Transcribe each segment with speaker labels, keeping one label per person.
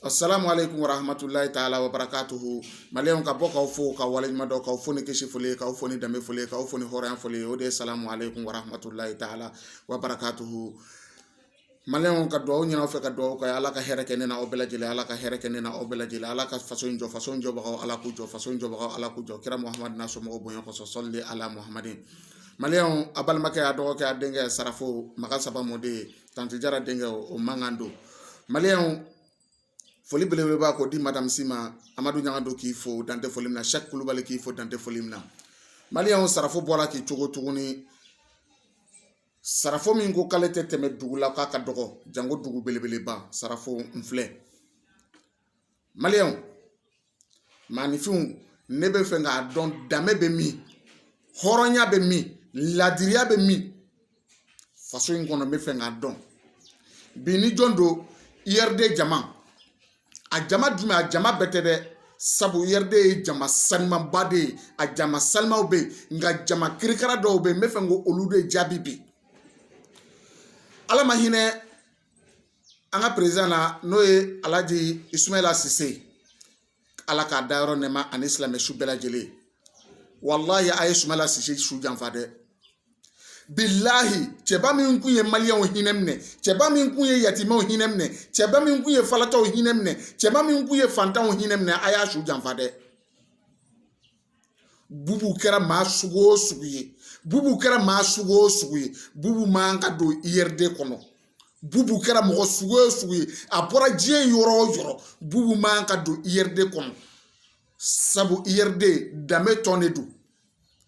Speaker 1: Asalamu alekum wa rahamatulahi taala wa barakatuhu maliyɛnw ka bɔ k'aw fo k'aw waleɲumandɔn k'aw fo ni kisi foli k'aw fo ni danbe foli k'aw fo ni hɔrɔnya foli o de ye salamu alekum wa rahamatulahi taala wa barakatuhu maliyɛnw ka dugawu ɲini aw fɛ ka dugawu k'aw ye ala ka hɛrɛ kɛ ne n'aw bɛɛ lajɛlen ala ka hɛrɛ kɛ ne n'aw bɛɛ lajɛlen ala ka faso jɔ faso jɔbagaw ala k'u jɔ faso jɔbagaw ala k'u jɔ kira muhamadu n'a somɔgɔw bonya kɔsɔn sɔli ala muhamadin maliyɛnw aw balimakɛ aw dɔgɔkɛ aw denkɛ sarafo makan saba mɔden ye tanti jara denkɛ o mankan don maliyɛnw foli belebeleba ko di madamu sima amadu ɲangado k'i fo dan tɛ foli min na sɛk kulubali k'i fo dan tɛ foli min na maliyɛnw sarafo bɔla k'i cogo tuguni sarafo min ko k'ale tɛ tɛmɛ dugu la k'a ka dɔgɔ janko dugu belebeleba sarafo n filɛ maliyɛn maaninfinw ne bɛ fɛ k'a dɔn danbe bɛ min hɔrɔnya bɛ min laadiriya bɛ min faso in kɔnɔ n bɛ fɛ k'a dɔn bi ni jɔn don URD jama a jama jumɛn a jama bɛɛ tɛ dɛ sabu URD ye jama salimaba de ye a jama salimaw bɛ yen nka jama kirikara dɔw bɛ yen n bɛ fɛ k'olu de jaabi bi ala ma hinɛ an ka perezidan na n'o ye alaji isumala sise ala k'a dayɔrɔ nɛɛma ani silamɛ su bɛɛ lajɛlen walahi a ye sumala sise su janfa dɛ bilahi cɛba min tun ye maliyɛnw hinɛ minɛ cɛba min tun ye yatimaw hinɛ minɛ cɛba min tun ye falataw hinɛ minɛ cɛba min tun ye fantanw hinɛ minɛ a y'a su janfa dɛ bubu kɛra maa sugu o sugu ye bubu kɛra maa sugu o sugu ye bubu man ka don URD kɔnɔ bubu kɛra mɔgɔ sugu o sugu ye a bɔra diɲɛ yɔrɔ o yɔrɔ bubu man ka don URD kɔnɔ sabu URD danbe tɔn de don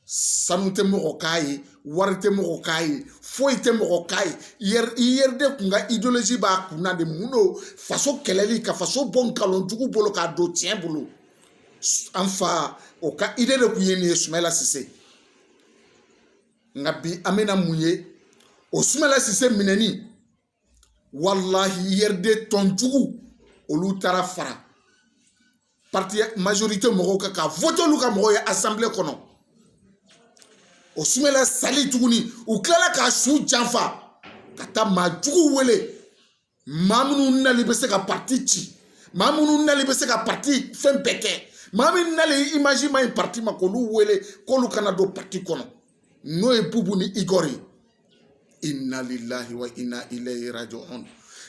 Speaker 1: sanu tɛ mɔgɔ k'a ye wari tɛ mɔgɔ k'a ye foyi tɛ mɔgɔ k'a ye URD kun ka idéologie b'a kunna de mun don faso kɛlɛli ka faso bɔ nkalon jugu bolo k'a don tiɲɛ bolo an fa o ka idée de kun ye nin ye sumala sise nka bi an bɛna mun ye o sumala sise minɛni walahi URD tɔn jugu olu taara fara parti majorité mɔgɔw kan ka vote olu ka mɔgɔw ye assemblée kɔnɔ o sumala sali tuguni u tilala k'a su janfa ka taa maa juguw wele maa minnu nali bɛ se ka parti ci maa minnu nali bɛ se ka parti fɛn bɛɛ kɛ maa min nali image man ɲi parti ma k'olu wele k'olu ka na don parti kɔnɔ n'o ye bubu ni igor ye inna lillahi wa inna ilayhi raji'un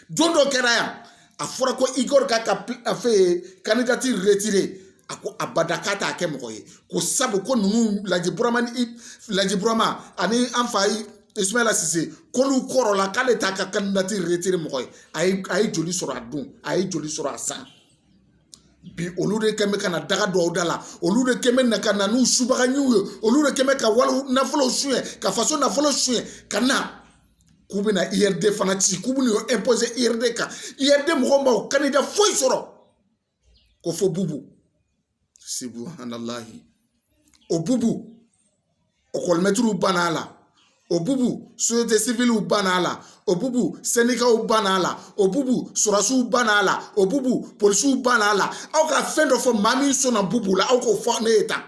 Speaker 1: don dɔ kɛra yan a fɔra ko igor k'a ka fɛn candidature retirer a ko abada k'a t'a kɛ mɔgɔ ye ko sabu ko ninnu laji burama ni laji burama ani an fa Isumala Sise k'olu kɔrɔla k'ale t'a ka kandidatiri retire mɔgɔ ye a ye a ye joli sɔrɔ a don a ye joli sɔrɔ a san bi olu de kɛn bɛ ka na daga dɔw da la olu de kɛn bɛ na ka na n'u subagaɲinw ye olu de kɛn bɛ ka wari nafolow suɲɛ ka faso nafolo suɲɛ ka na k'u bɛna URD fana ci k'u bɛna o imposer URD kan URD mɔgɔw ma o kandida foyi sɔrɔ ko fo bubu subahanalahi o bubu ekɔlimɛtiriw banna a la o bubu sosiyete siviliw banna a la o bubu sɛnikaw banna a la o bubu sɔrɔsiw banna a la o bubu polisiw banna a la aw ka fɛn dɔ fɔ maa min sɔnna bubu la aw k'o fɔ ne ye tan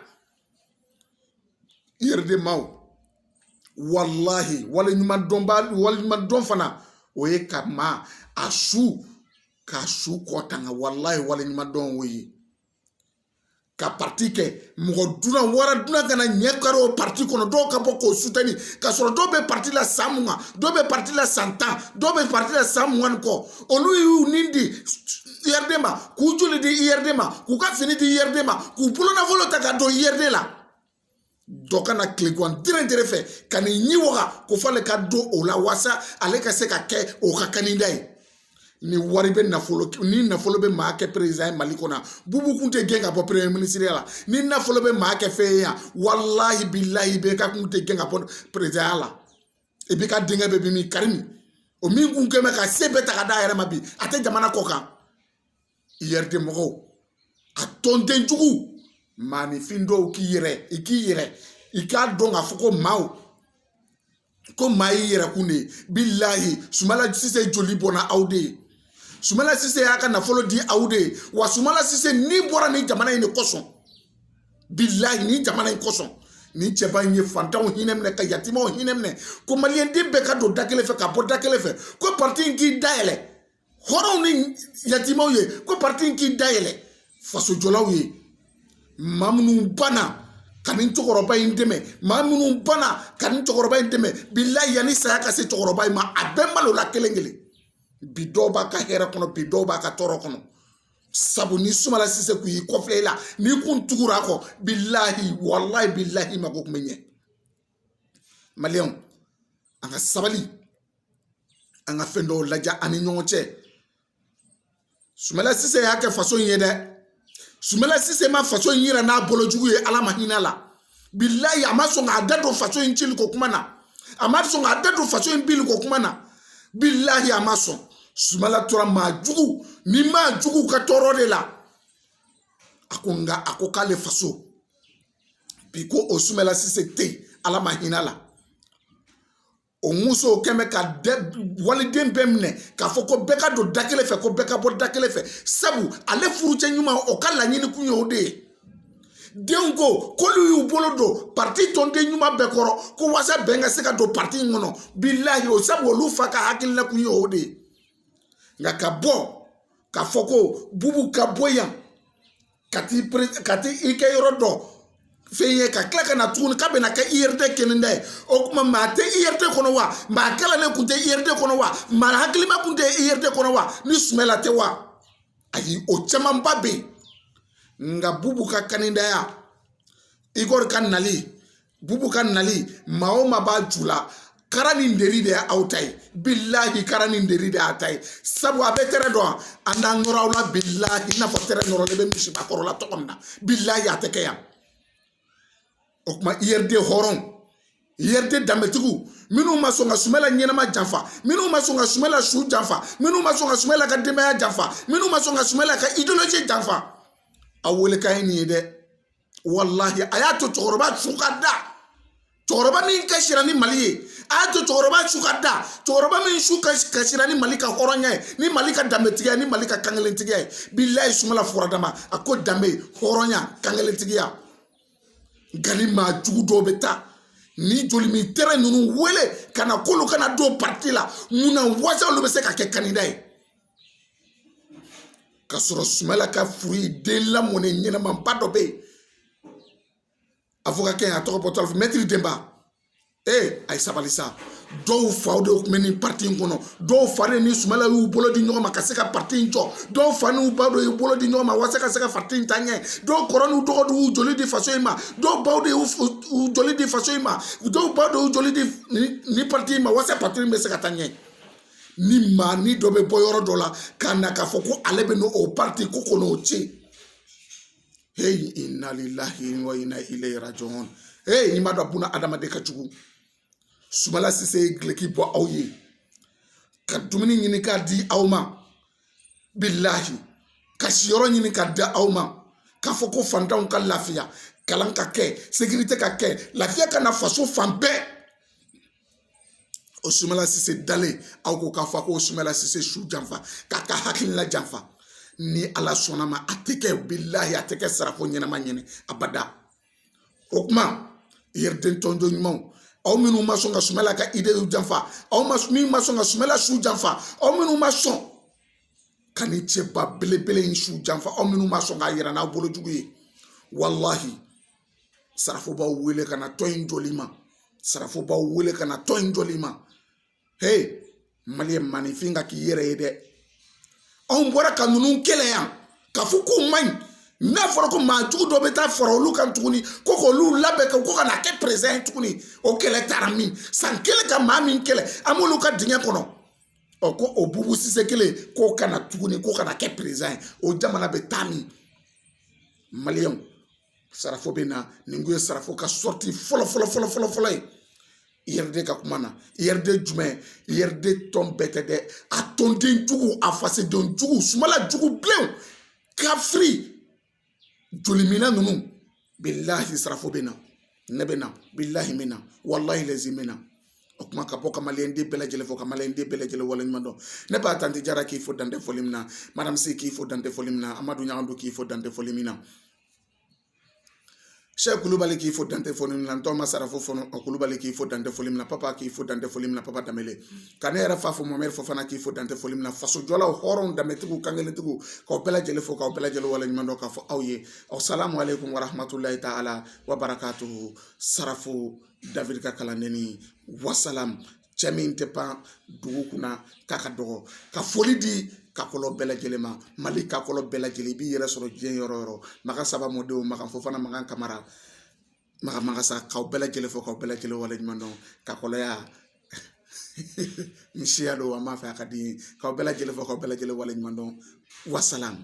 Speaker 1: URD maaw walahi waleɲuman dɔnba waleɲuman dɔn fana o ye ka maa a su k'a su kɔ tanga walayi waleɲuman dɔn o ye ka pati kɛ mɔgɔ dunan wara dunan kana ɲɛ kari o pati kɔnɔ dɔw ka bɔ k'o sutani ka sɔrɔ dɔw bɛ pati la san mugan dɔw bɛ pati la san tan dɔw bɛ pati la san mugan ni kɔ olu y'u ni di URD ma k'u joli di URD ma k'u ka fini di URD ma k'u bolonafolo ta ka don URD la dɔ kana tilegan tɛrɛn tɛrɛn fɛ ka n'i ɲɛ waga ko f'ale ka don o la walasa ale ka se ka kɛ o ka kandida ye ni wari bɛ nafolo ni nafolo bɛ maa kɛ perezan ye mali kɔnɔ bubu kun tɛ gɛn ka bɔ peremiye minisiriya la ni nafolo bɛ maa kɛ fɛn ye yan walahi bilahi IBK kun tɛ gɛn ka bɔ perezanya la IBK denkɛ bɛ min Karimu o min kun kɛn bɛ ka se bɛɛ ta ka d'a yɛrɛ ma bi a tɛ jamana kɔkan URD mɔgɔw a tɔnden jugu maanifin dɔw k'i yɛrɛ i k'i yɛrɛ i k'a dɔn k'a fɔ ko maaw ko maa y'i yɛrɛkun de ye bilahi sumala sise joli bɔnna aw de ye sumala sise y'a ka nafolo di aw de ye wa sumala sise ni bɔra nin jamana in de kosɔn bilahi nin jamana in kosɔn nin cɛba in ye fantanw hinɛ minɛ ka yatimaw hinɛ minɛ ko maliyɛnden bɛɛ ka don da kelen fɛ ka bɔ da kelen fɛ ko parti in k'i dayɛlɛ hɔrɔnw ni yatimaw ye ko parti in k'i dayɛlɛ fasojɔlaw ye maa minnu banna ka nin cɛkɔrɔba in dɛmɛ maa minnu banna ka nin cɛkɔrɔba in dɛmɛ bilayi yanni saya ka se cɛkɔrɔba in ma a bɛɛ malola kelen kelen bi dɔw b'a ka hɛrɛ kɔnɔ bi dɔw b'a ka tɔɔrɔ kɔnɔ sabu ni sumala sise kun y'i kɔfilɛ i la n'i kun tugura a kɔ bilahi walahi bilahi mako kun bɛ ɲɛ an ka sabali an ka fɛn dɔw lajɛ an ni ɲɔgɔn cɛ sumala sise y'a kɛ faso in ye dɛ sumala sise ma faso in yira n'a bolo jugu ye ala ma hinɛ a la bilayi a ma sɔn k'a da don faso in cili ko kuma na a ma sɔn k'a da don faso in bili ko kuma na bilayi a ma sɔn sumala tora maa jugu ni maa jugu ka tɔɔrɔ de la a ko nka a ko k'ale faso bi ko o sumala sise tɛ yen ala ma hinɛ la o muso kun bɛ ka waliden bɛɛ minɛ k'a fɔ ko bɛɛ ka don da kelen fɛ ko bɛɛ ka bɔ da kelen fɛ sabu ale furucɛ ɲuman o ka laɲini kun ye o de ye denw ko k'olu y'u bolo don pariti tɔnden ɲuman bɛɛ kɔrɔ ko walasa bɛn ka se ka don pariti in kɔnɔ bilahi o sabu olu fa ka hakilina kun ye o de ye nka ka bɔ k'a fɔ ko bubu ka bɔ yan ka t'i kɛ yɔrɔ dɔ fɛn ye ka tila ka na tuguni k'a bɛna kɛ URD kandida ye o kuma maa tɛ URD kɔnɔ wa maa kalannen kun tɛ URD kɔnɔ wa maa hakilima kun tɛ URD kɔnɔ wa ni sumala tɛ wa ayi o camanba bɛ yen nka bubu ka kandidaya Igor ka nali bubu ka nali maa o maa b'a ju la kara ni deri de y'aw ta ye bilahi kara ni deri de y'a ta ye sabu a bɛ tɛrɛ dɔn an n'an nɔrɔ aw la bilahi i n'a fɔ tɛrɛ nɔrɔlen bɛ misiba kɔrɔ la cogo min na bilahi a tɛ kɛ yan o kuma URD hɔrɔn URD danbetigiw minnu ma sɔn ka sumala ɲɛnama janfa minnu ma sɔn ka sumala su janfa minnu ma sɔn ka sumala ka denbaya janfa minnu ma sɔn ka sumala ka ideyoloji janfa aw welekan ye nin ye dɛ walahi a y'a to cɛkɔrɔba su ka da cɛkɔrɔba min ka sira ni mali ye a y'a to cɛkɔrɔba su ka da cɛkɔrɔba min su ka sira ni mali ka hɔrɔnya ye ni mali ka danbetigiya ni mali ka kankelentigiya ye bilahi sumala fɔra dama a ko danbe hɔrɔnya kankelentigiya nka ni maa jugu dɔw bɛ taa ni jolimin tɛrɛ ninnu wele ka na k'olu ka na don pariti la mun na wasa olu bɛ se ka kɛ kandida ye ka sɔrɔ sumala ka furu ye den lamɔnen ɲɛnamaba dɔ bɛ yen awoka kɛ a tɔgɔ bɔtɔ mɛtiri denba ee a ye sabali sa dɔw faw de tun bɛ nin pati in kɔnɔ dɔw fa de ni sumala y'u bolo di ɲɔgɔn ma ka se ka pati in jɔ dɔw fa n'u ba de y'u bolo di ɲɔgɔn ma walasa ka se ka pati in taa ɲɛ dɔw kɔrɔ n'u dɔgɔ de y'u joli di faso in ma dɔw baw de y'u joli di faso in ma dɔw baw de y'u joli di nin pati in ma walasa pati in bɛ se ka taa ɲɛ ni maanin dɔ bɛ bɔ yɔrɔ dɔ la ka na k'a fɔ ko ale bɛ n'o pariti ko kɔnɔ o tiɲɛ heyi inna lillahi wa inna ilayhi rajiun heyi n'i ma dɔn buna adamaden ka jugu sumala sise ye gileki bɔ aw ye ka dumuni ɲini k'a di aw ma bilahi ka siyɔrɔ ɲini k'a di aw ma k'a fɔ ko fantanw ka lafiya kalan ka kɛ sekirite ka kɛ lafiya ka na faso fan bɛɛ o sumala sise dalen aw ko k'a fɔ ko sumala sise su janfa k'a ka hakilina janfa ni ala sɔnna ma a tɛ kɛ bilahi a tɛ kɛ sarako ɲɛnama ɲɛ na abada o kuma URD tɔnjɔ ɲumanw aw minnu ma sɔn ka sumala ka idew janfa aw min ma sɔn ka sumala su janfa aw minnu ma sɔn ka nin cɛba belebele in su janfa aw minnu ma sɔn k'a yira n'aw bolo jugu ye walahi sarafo b'aw wele ka na tɔn in jɔli ma sarafo b'aw wele ka na tɔn in jɔli ma he maliyɛn maninfin ka k'i yɛrɛ ye dɛ anw bɔra ka ninnu kɛlɛ yan k'a fɔ k'u man ɲi n'a fɔra ko maa jugu dɔ bɛ taa fara olu kan tuguni ko k'olu labɛn k'o ka na kɛ perezan ye tuguni o kɛlɛ taara min san kelen ka maa min kɛlɛ an b'olu ka dingɛ kɔnɔ ɔ ko o bubu sise kelen k'o ka na tuguni k'o ka na kɛ perezan ye o jamana bɛ taa min maliyɛnw sarafo bɛ na nin kun ye sarafo ka sɔrɔti fɔlɔ fɔlɔ fɔlɔ fɔlɔ fɔlɔ ye URD ka kuma na URD jumɛn URD tɔn bɛɛ tɛ dɛ a tɔnden jugu a fasoden jugu sumala jugu bilen kafiri joliminna ninnu bilahi sarafo bɛ na ne bɛ na bilahi n bɛ na walahi lazimi n bɛ na o kuma ka bɔ ka maliyɛn den bɛɛ lajɛlen fo ka maliyɛn den bɛɛ lajɛlen waleɲuman dɔn ne ba tanti jara k'i fo dan tɛ foli min na madame si k'i fo dan tɛ foli min na amadu ɲagadu k'i fo dan tɛ foli min na sɛki kulubali k'i fo dan tɛ foli min na ntɔma sarafo fɔnɔ o kulubali k'i fo dan tɛ foli min na papa k'i fo dan tɛ foli min na papa danbele ka ne yɛrɛ fa fo mamɛri fofana k'i fo dan tɛ foli min na fasojɔlaw hɔrɔnw danbetigiw kankelentigiw k'aw bɛɛ lajɛlen fo k'aw bɛɛ lajɛlen waleɲuman dɔn k'a fɔ aw ye asalamu aleykum warahmatulahi taala wa barakatu sarafo dawidi ka kalandennin wasalamu cɛ min tɛ pan dugu kunna k'a ka dɔgɔ ka foli di kakɔlɔ bɛɛ lajɛlen ma mali kakɔlɔ bɛɛ lajɛlen i b'i yɛrɛ sɔrɔ diɲɛ yɔrɔ yɔrɔ makan saba mɔdenw makan fofana makan kamara makan magasa k'aw bɛɛ lajɛlen fo k'aw bɛɛ lajɛlen waleɲuman dɔn kakɔlɔya n siya don an b'a fɛ a ka di k'aw bɛɛ lajɛlen fo k'aw bɛɛ lajɛlen waleɲuman dɔn wasalamu